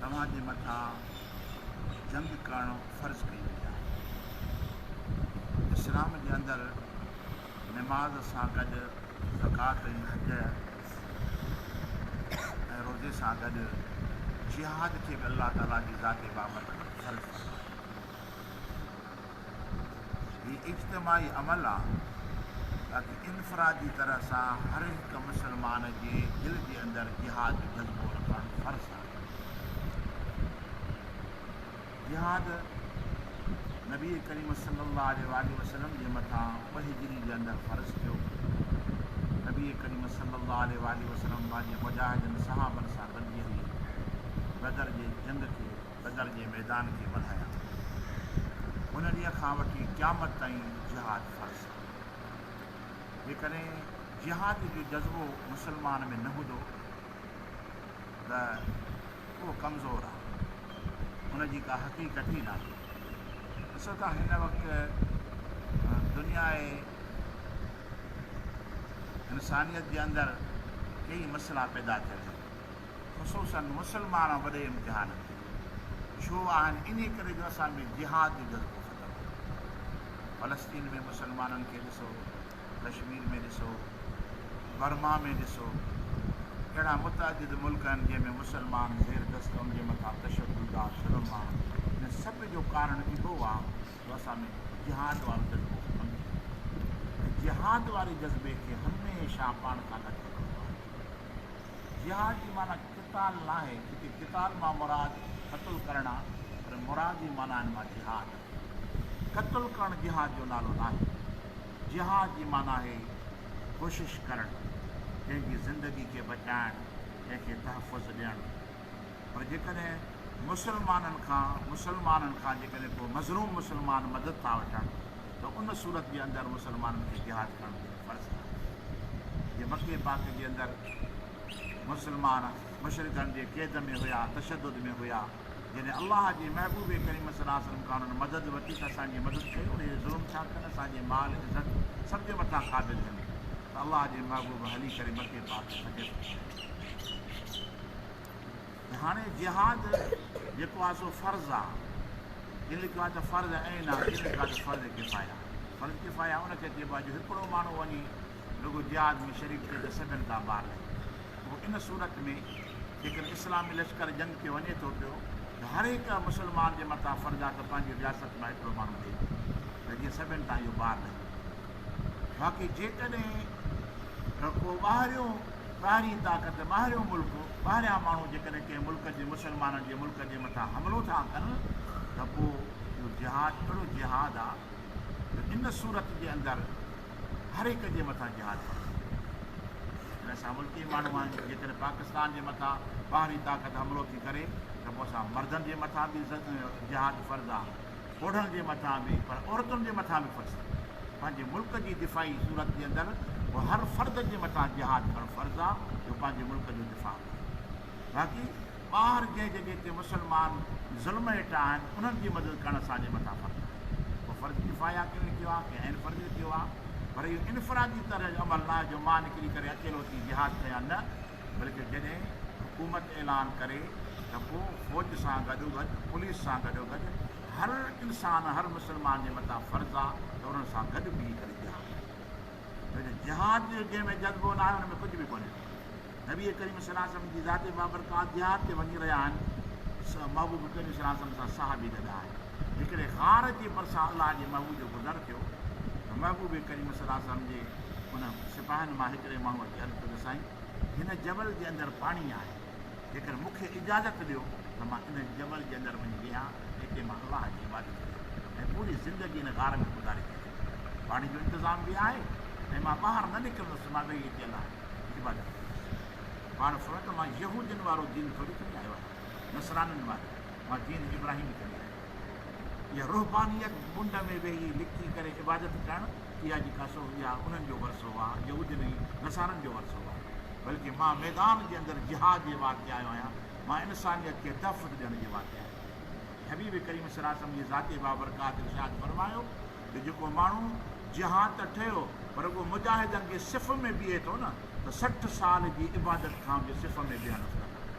توهان جي مٿان جنگ ڪرڻ فرض ڪئي وئي آهي. اسلام جي اندر نماز سان گڏ زڪوات ۽ حج ۽ روزي سان گڏ جهاد کي به الله تعاليٰ جي ذات بابرڪت فرض فرمايو. هي اجتماعي عمل آ تاڪه انفرادي طرح سان هر هڪ مسلمان جي دل جي اندر جهاد جو جذبو رکڻ فرض آ. جهاد نبي ڪريم صلي الله عليه واٰله وسلم جي مٿان ٻه هجري جي اندر فرض ٿيو. نبي ڪريم صلي الله عليه واٰله وسلم پنهنجي مجاهدن صحابن سان گڏجي هلي بدر جي جنگ کي بدر جي ميدان کي وڌايان ٿو. ان ڏينهن کان وٺي قيامت تائين جهاد فرض آهي. جيڪڏهن جهاد جو جذبو مسلمان ۾ نه هوندو ته اهو ڪمزور آهي. ان جي ڪا حقيقت ئي ناهي. ڏسو ته هن وقت دنيا انسانيت جي اندر ڪيئي مسئلا پيدا ٿيل آهن. خصوصاً مسلمان وڏي امتحان ۾ ڇو آهن انهي ڪري جو اسان ۾ جهاد جو جذبو ختم ٿي ويو. فلسطين ۾ مسلمانن کي ڏسو، ڪشمير ۾ ڏسو، برما ۾ ڏسو، اهڙا متعدد ملڪ آهن جنهن ۾ مسلمان زير دست آهن ان جي مٿان تشدد آ، ظلم آ، ان سڀ جو ڪارڻ اهو آ جو اسان ۾ جهاد وارو جذبو ختم ٿي ويو آهي ۽ جهاد واري جذبي کي هميشه پاڻ کان لڳي هلڻو آهي. جهاد جي معنيٰ قتال ناهي، هتي قتال مان مراد قتل ڪرڻ آهي، پر مراد جي معنائن مان جهاد آهي. قتل ڪرڻ جهاد جو نالو ناهي. جهاد جي معنيٰ آهي ڪوشش ڪرڻ، ڪنهن جي زندگي کي بچائڻ، ڪنهن کي تحفظ ڏيڻ، پر جيڪڏهن مسلمانن کان مسلمانن کان جيڪڏهن ڪو مظلوم مسلمان مدد ٿا وٺن ته ان صورت جي اندر مسلمانن کي جهاد ڪرڻ فرض ٿو ٿئي. جي مڪي پاڪ جي اندر مسلمان مشرڪن جي قيد ۾ هيا، تشدد ۾ هيا، جڏهن الله جي محبوب ڪريم صلي الله عليه وسلم کان انهن مدد ورتي ته اسان جي مدد ڪيو اهي ظلم ٿا ڪن اسان جي مال عزت سڀ جي مٿان قابض آهن ته الله جي محبوب هلي ڪري مڪي پاڪ فتح ڪيو. هاڻي جهاد جيڪو آهي سو فرض آهي ڪن لکيو آهي ته فرض عين آهي ڪن لکيو آهي ته فرض ڪفايا فرض ڪفايا ان کي چئبو آهي جو هڪڙو ماڻهو وڃي رڳو جهاد ۾ شريڪ ٿئي ته سڀن کان ٻار لهي پوء ان صورت ۾ جيڪڏهن اسلامي لشڪر جنگ کي وڃي ٿو پيو ته هر هڪ مسلمان جي مٿان فرض آهي ته پنهنجي رياست مان هڪڙو ماڻهو ڏئي ته جيئن سڀن تان اهو ٻار لهي باقي جيڪڏهن رڳو ٻاهريون ٻاهرين طاقت، ٻاهريون ملڪ، ٻاهريان ماڻهو جيڪڏهن ڪنهن ملڪ جي مسلمانن جي ملڪ جي مٿان حملو ٿا ڪن ته پوء اهو جهاد اهڙو جهاد آ جو ان صورت جي اندر هر هڪ جي مٿان جهاد فرض ٿي پوي ٿو. جيڪڏهن اسان ملڪي ماڻهو آهيون جيڪڏهن پاڪستان جي مٿان ٻاهرين طاقت حملو ٿي ڪري ته پوء اسان مردن جي مٿان به جهاد فرض آ. پوڙهن جي مٿان به پر عورتن جي مٿان به فرض آهي پنهنجي ملڪ جي دفاعي صورت جي اندر به هر فرد جي مٿان جهاد ڪرڻ فرض آهي جو پنهنجي ملڪ جو دفاع ڪري باقي ٻاهر جنهن جڳهه تي مسلمان ظلم هيٺ آهن انهن جي مدد ڪرڻ اسان جي مٿان فرض آهي اهو فرض ڪفايه ڪنهن لکيو آهي ڪنهن عين فرض لکيو آهي پر اهو انفرادي طرح جو عمل ناهي جو مان نڪري ڪري اڪيلو اچي جهاد ڪيان نه بلڪه جڏهن حڪومت اعلان ڪري ته پوء فوج سان گڏوگڏ پوليس سان گڏوگڏ هر انسان هر مسلمان جي مٿان فرض آ ته انهن سان گڏ بيهي ڪري جهاد ڪري ڇو جو جهاد جو جنهن ۾ جذبو ناهي ان ۾ ڪجهه به ڪونهي نبي ڪريم صلي الله عليه وسلم جي ذات بابرڪات جهاد تي وڃي رهيا آهن محبوب ڪريم صلي الله عليه وسلم سان صحابي گڏ آهن. جيڪڏهن غار جي ڀرسان الله جي محبوب جو گذر ٿيو ته محبوب ڪريم صلي الله عليه وسلم جي انهن سپاهين مان هڪڙي ماڻهوء اچي عرض ڪيو ته سائين هن جبل جي اندر پاڻي آهي جيڪر مون کي اجازت ڏيو ته مان ان جبل جي اندر وڃي ويهان اتي مان الله جي عبادت ڪيان ۽ پوري زندگي ان غار ۾ گذاري ڇڏيان پاڻي جو انتظام به آهي ۽ مان ٻاهر نه نڪرندس مان ويهي اتي الله جي عبادت ڪندس پاڻ فرمايو ته مان يهودين وارو دين ٿوري کڻي آيو آهيان نصرانين وارو مان جيئن ابراهيم به ڪندي آهيان. اها رهبانيت، منڊ ۾ ويهي لڪي ڪري عبادت ڪرڻ، اها جي ڪا سو اها انهن جو ورثو هئا، يهودين ۽ نصارن جو ورثو هئا. بلڪه مان ميدان جي اندر جهاد جي واسطي آيو آهيان، مان انسانيت کي تحفظ ڏيڻ جي واسطي آيو آهيان. ۽ حبيب ڪريم صلي الله عليه وسلم جي ذات بابرڪات ارشاد فرمايو ته جيڪو ماڻهو جهاد ته ٺهيو پر رڳو مجاهدن جي صف ۾ بيهي ٿو نه ته سٺ سال جي عبادت کان به صف ۾ بيهڻ افضل آهي.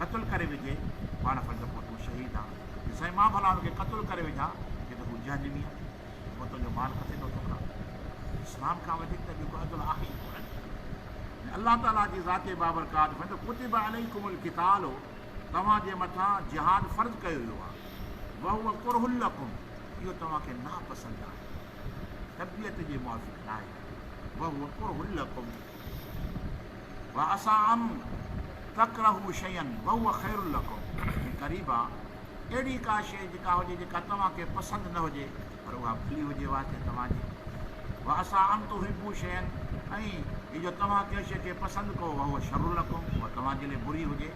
قتل ڪري وجهي پاڻ سمجهه پوء تون شهيد آن جو سائين مان ڀلا ان کي قتل ڪري وجها جي ته هو جهنمي آن پوء تنهنجو مال ڪٿي ٿو ٿڪان اسلام کان وڌيڪ ته ٻيو ڪو عدل آهي ئي ڪونه ۽ الله تعالي جي ذات بابرڪات فرمائي ٿو ڪتب عليڪم القتال توهان جي مٿان جهاد فرض ڪيو ويو آهي وهو ڪره لكم اهو توهان کي ناپسند آهي طبيعت جي موافق ناهي وهو ڪره لكم وعسٰي ان تڪرهوا شيئا وهو خير لڪم ۽ قريب آ اهڙي ڪا شيء جيڪا هجي جيڪا توهان کي پسند نه هجي پر اها ڀلي هجي واسطي توهان جي وعسٰي ان تحبوا شيئا ۽ هي جو توهان ڪنهن شيء کي پسند ڪئو وهو شر لڪم اها توهان جي لئي بري هجي.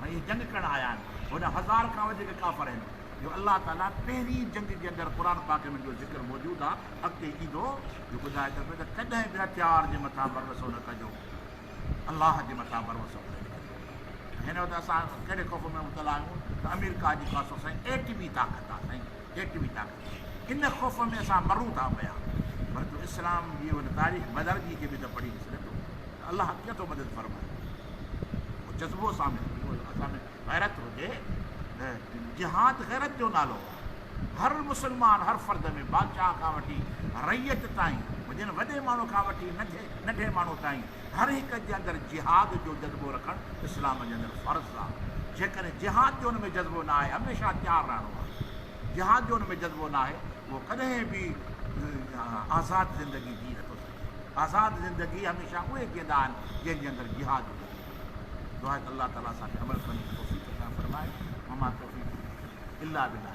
هاڻي اهي جنگ ڪرڻ آيا آهن، هوڏانهن هزار کان وڌيڪ ڪافر آهن، جو الله تعاليٰ پهرين جنگ جي اندر قرآن پاڪ ۾ جو ذڪر موجود آهي، اڳتي ايندو، جو ٻڌائي ٿو پيو ته ڪڏهن به هٿيار جي مٿان ڀروسو نه ڪجو، الله جي مٿان ڀروسو ڪري ڏيکاريو. هن وقت اسان ڪهڙي خوف ۾ مبتلا آهيون ته آمريڪا جيڪا سو سائين ايٽمي طاقت آهي سائين، ڪيٽ به طاقت آهي. ان خوف ۾ اسان مرون ٿا پيا. پر تو اسلام جي ان تاريخ بدر جي کي به ته پڙهي ڏس نه پيو ته الله ڪيئن ٿو مدد فرمائي. اهو جذبو اسان ۾ هجي، اهو اسان ۾ غيرت هجي ته جهاد غيرت جو نالو آهي. هر مسلمان، هر فرد ۾ بادشاهه کان وٺي رعيت تائين، هجن وڏي ماڻهو کان وٺي ننڍي ماڻهو تائين، هر هڪ جي اندر جهاد جو جذبو رکڻ اسلام جي اندر فرض آ جيڪڏهن جهاد جو ان ۾ جذبو ناهي هميشه تيار رهڻو آ جهاد جو ان ۾ جذبو ناهي اهو ڪڏهن به آزاد زندگي جي نٿو سگهي آزاد زندگي هميشه اهي جيئندا آهن جنهن جي اندر جهاد جو جذبو هجي دعا ته الله تعالي اسان کي عمل ڪرڻ جي توفيق عطا فرمائي وما توفيقي الا بالله